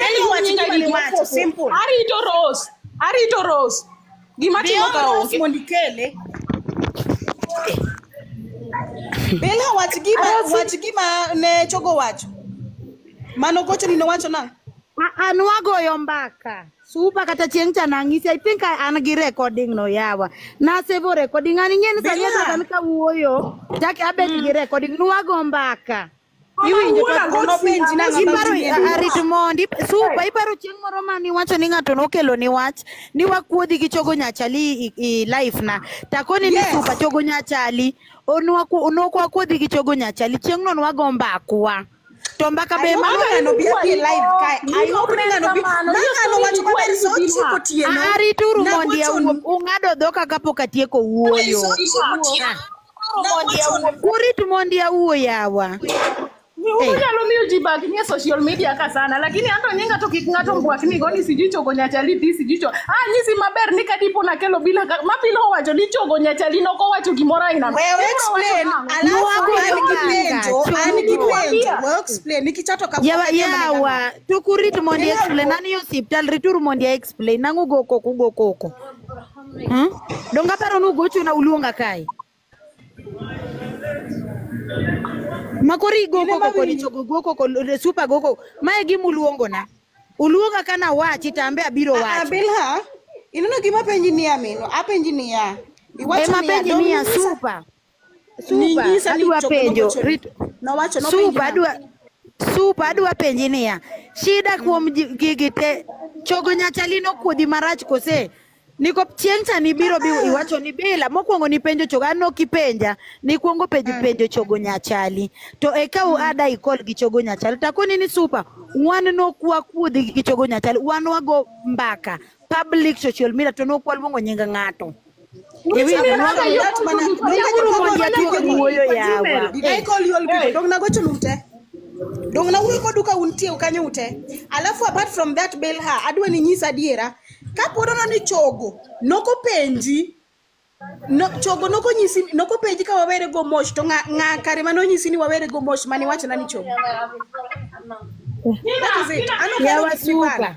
Anyone nyinga chikali ni wacho, ofuopo. simple. Arito Rose. Arito Rose. Gima timo ka Bill onge. mondo ikele. Bella wach gima wach gima ne chogo wacho. Mano gocho ni nowacho nang'. A- an wagoyo mbaka supa kata chieng' cha nang'isi i think I- an gi recording no yawa nasevo recording an ing'eni sani Bila. asaka ni kawuoyo chak abet gi recording nwago mbaka Iwinjo to Awuora, kono penji na ng'ama Iparo chunye duong'. arit mondi supa iparo chieng' moro ma niwacho ni ng'ato nokelo ni wach ni wakuodhi gi chogo nyachali i, i life na takoni ni Yes. supa chogo nyachali onwaku- nokwakuodhi gi chogo nyachali chieng' no nwago mbakwa to mbaka be ma Mama ng'ano bi abi live kae. I hope ni ng'ano bi. Ma ng'ano wacho maber saa ochiko otieno. arituru mondi Nagochonu. awuo ung'ado dhoka kapok atieko wuoyo Saa ochiko otieno. Kurit mondi awuo yawa. Unyalo miyo ji bag nie social media ka sana lakini anto nyinga to kik ng'ato mbwakni go ni sijui chogo nyachali di sijui cho ah nyisi maber ni kadipo nakelo bila ka- ma pile owacho ni chogo nyachali nok owacho gimoro aina no. Wewe explain, alafu Nwago an gi manga, penjo, an gi chogo. penjo. Wewe explain, nikichato ka Yawa yawa tukurit mondi explain nani yo siptal rituru mondi explain nangu go koko go koko. Hmm? Donga paro nu gocho na uluonga kae. Makori goko koko ni chogo goko koko le super goko. Mae gi muluongo na. Uluonga kana wachi tambe abiro Ah, wacho. Bilha, ineno gima penji niya mino, apenji niya. Iwacho Ema niya, penji ni ya Domingos- super. Ninyisa ni adwa chogo penjo nogochoni. rit Nowacho nopenji supa nang'o? adwa supa adwa penji niya shida kuom ji- gigi te chogo nyachali nokuodhi marach kose niko chieng' cha nibiro bi iwacho ni bila mokwongo nipenjo chogo an ok ipenja nikwongo penjo penjo chogo nyachali to eka u ada ikol gi chogo nyachali takoni ni supa wan nok wakuodhi gi chogo nyachali wan wago mbaka public social media to nok waluongo nying ng'ato Did I call you all people? Don't go to Lute. Don't na wuyo kodu ka untie ukanyo ute. Alafu apart from that bail her, adwa ni nyisa adiera. Ka pod ono ni chogo, noko penji. No, chogo noko nyisi noko penji ka wawere go mosh to nga, nga kare mano nyisi ni wawere go mosh mani wacho na ni chogo. That is it. Ano Yeah, karo wasuka. kipipara.